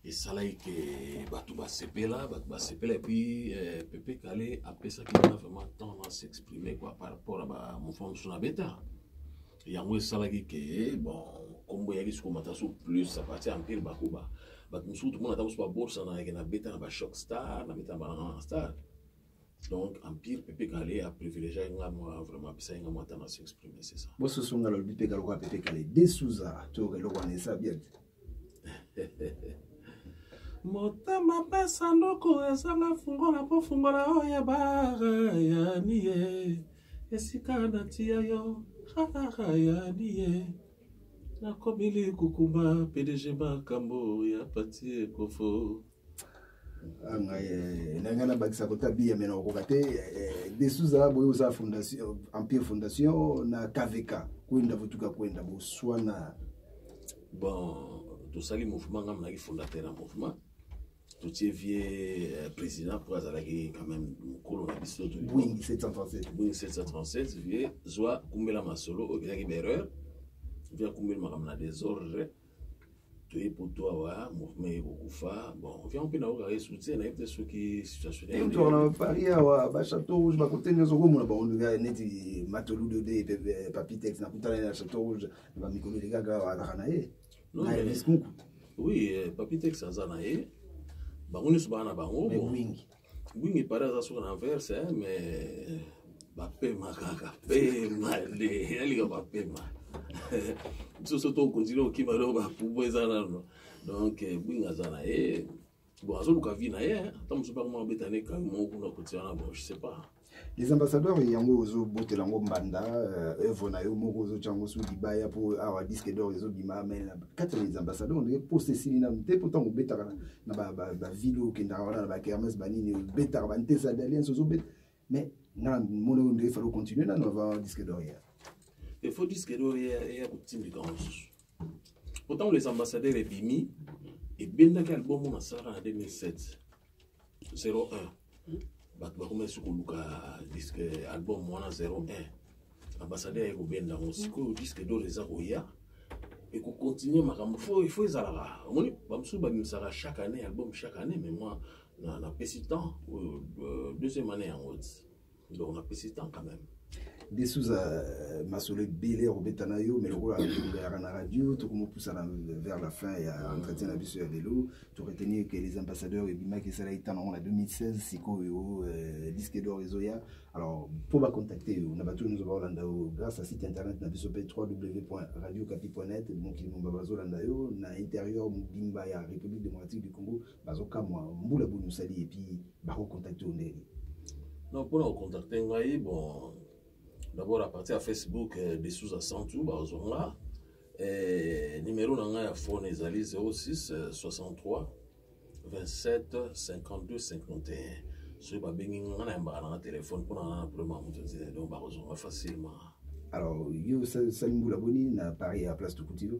esalaki ke bato basepela bato basepela epuis eh, pepe kale apesaki nga vraiment temps na s'exprimer quoi par rapport ya bamouvement mosusu na beta yango esalaki ke bon nkombo eyaki sokomata so plus à partir ya mpire bakuba bato mosusu tomona ata mosusu babosanaka na beta na bachoc star na beta na banana star donc empire pepe kale a privilégié nga mwa vraiment apesaki nga mwa temps na s'exprime c'est ça bosusu nga lobi pepe kale okoya pepe kale de suza toyoka eloko wana eza bien motema mpe sanduku ezanga fungola mpo fungola oyo ebara yani ye esika natiya yo harara yani ye nakomili kukumba pdg makambo ya pati ekofo Ah, ngai eh, na ngai nabakisa kota biya me nakokoka te eh, desuza boye oza fondation empire fondation na kvk kwenda votuka kwenda boswana bon tosali mouvement ngai monaki fondateur ya mouvement totie vie eh, président mpo azalaki quand même mokolo na biso boing 737 boing 737 vie zwa kumbela masolo oyo ezalaki baerreur vie akumbeli makambo na desordre toye poto awa mouvement ye kokufa bon vian mpe naokaka ye soutien nayebi te soki situationntoka na paris awa bachateau rouge bakote nyonso okomona bango neti matoludo de eh, papitex nakutana ye na chateau rouge na bamikolo elekaka awa alaka na ye na eliskunku oui eh, papitex aza na ye bango nyonso baa na bango mingi Oui, mais par exemple, sur l'envers, hein, mais. Bapema kaka, pema, les, elle est bapema. biso so tokontinue kokima loko bapubu eza nano donc eh, bwinga aza na ye bon azoluka vi na ye ata mosusu mpe akoma abeta ne kami moko kuna kotia na bon je sais pas les ambassadeurs yango ozobotela yango mbanda œuvre euh, na yo moko ozotya yango soki libaya mpo awa disque d'or ezobima mai kati ya les ambassadeurs ondenge posa esili nanu te mpo ntango obetaka na bavile oyo okendaka wana na bakermes banini obetaka bantesa d'alliance ozobeta mais nga mona oyo nde efali ocontinue nanu avant disque d'or ya efo disque d'or eya kotindika yango mosusu mpo ntango les ambassadeurs ebimi ebendaki album oyo nasalaka na 2007 01 bato bakoma esi koluka disque album wana 01 ambassadeur aye kobenda yango sikoyo disque dor eza koya ekokontinue makambo fo ifo ezalaka omoni bamosusu babimisaka chaque année album chaque année mais moi napesi temps oyo euh, deuxième année yango ti donc napesi temps quand même de souza euh, masolo ebele ya kobeta na yo mai lokola tolobelaka na radio tokomopusana vers la fin ya entretien na biso ya lelo toretenir que les ambassadeurs ebimaki esala etana yango na 2016 sikoyo euh, disque d'or ezoya alors mpo bacontacte yo na bato nyonso baolanda yo grâce ya site internet na biso mpe www.radiocapi.net mokili momba bazolanda yo na interieur mobimba ya république démocratique du congo bazokamwa mbula boni osali epuis bakocontacte yo ndenge donc mpona kocontacte ngai bon d'abord à partir ya facebook euh, de souza santu bazwa nga eh, numero na ngai ya phone ezali 06 63 27 52 51 soki babengi nga nayambaka na nga telefone mpona nga na problème ya moto nzela donc bakozwa nga facilement alors yo osali mbula boni na paris ya place tokuti yo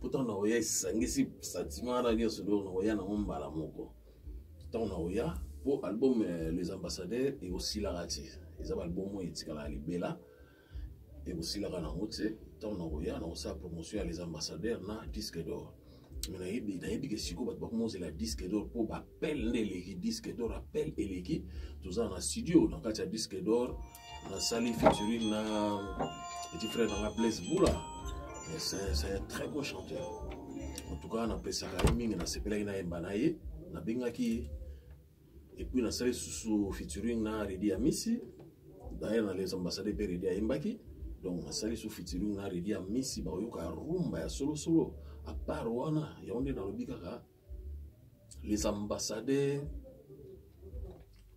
pourtant na oya esangisi sentiment na nyonso donc na oya nango mbala moko ntango na oya mpo album euh, les ambassadeurs ekosilaka te eza baalbum oyo etikalaka libela ekosilaka nango te ntango na koya na kosala promotion ya les ambassadeurs na disque d'or me nayebi nayebi ke sikoyo bato bakoma ozela disque d'or mpo bapele nde eleki disque d'or apele eleki tozala na studio na kati ya disque d'or nasali featuring na petit frère nanga blaise bula c'est un très bon chanteur en tout cas napesaka ye mingi nasepelaki nayemba na ye nabengaki ye epuis nasali susu featuring na redi ya misi d'ailleurs na les ambassade mpe redi ayembaki donc nasali susu featuring na redi ya misi baoyoka rumba ya solosolo apart wana yango nde nalobi kaka les ambassadeurs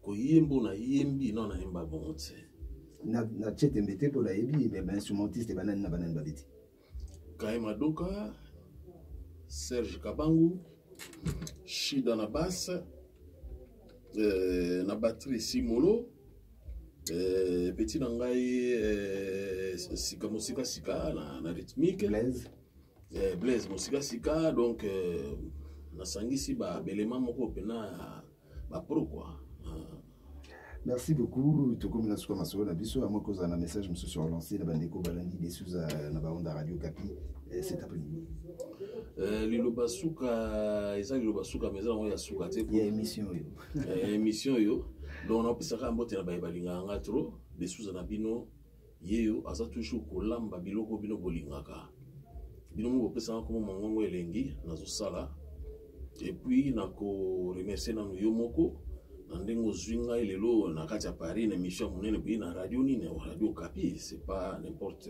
koyemba na yembi no na yemba bongo te na na chetembe te mpo nayebi me bainstrumentiste banani na banani babeti kaye madoka serge kabangu shida na basse euh, na batterie simolo euh, petit na ngai euh, sika mosika sika na, na rythmique Blaise. eh, blaise mosikasika donc euh, nasangisi babelema moko mpena ya bapro kua ah. merci beaucoup tokomi na suka masolo na biso yango ekozala na message mosusu ya relance na bandeko balandi desuza na baonda radio kapi eh, cet après midi eh, liloba suka eza liloba suka ma eza yango ya suka te ya émission oyo émission oyo donc napesaka mbote na baye balingaka nga trop desuza na bino yeyo aza toujours kolamba biloko bino bolingaka bino mo bopesaka nkombo mongongo elengi nazosala epuis nakoremercie nanu yo moko na ndenge ozwi ngai lelo na kati ya paris na émission ya monene boye na radio nini radio kapi c'est pas n'importe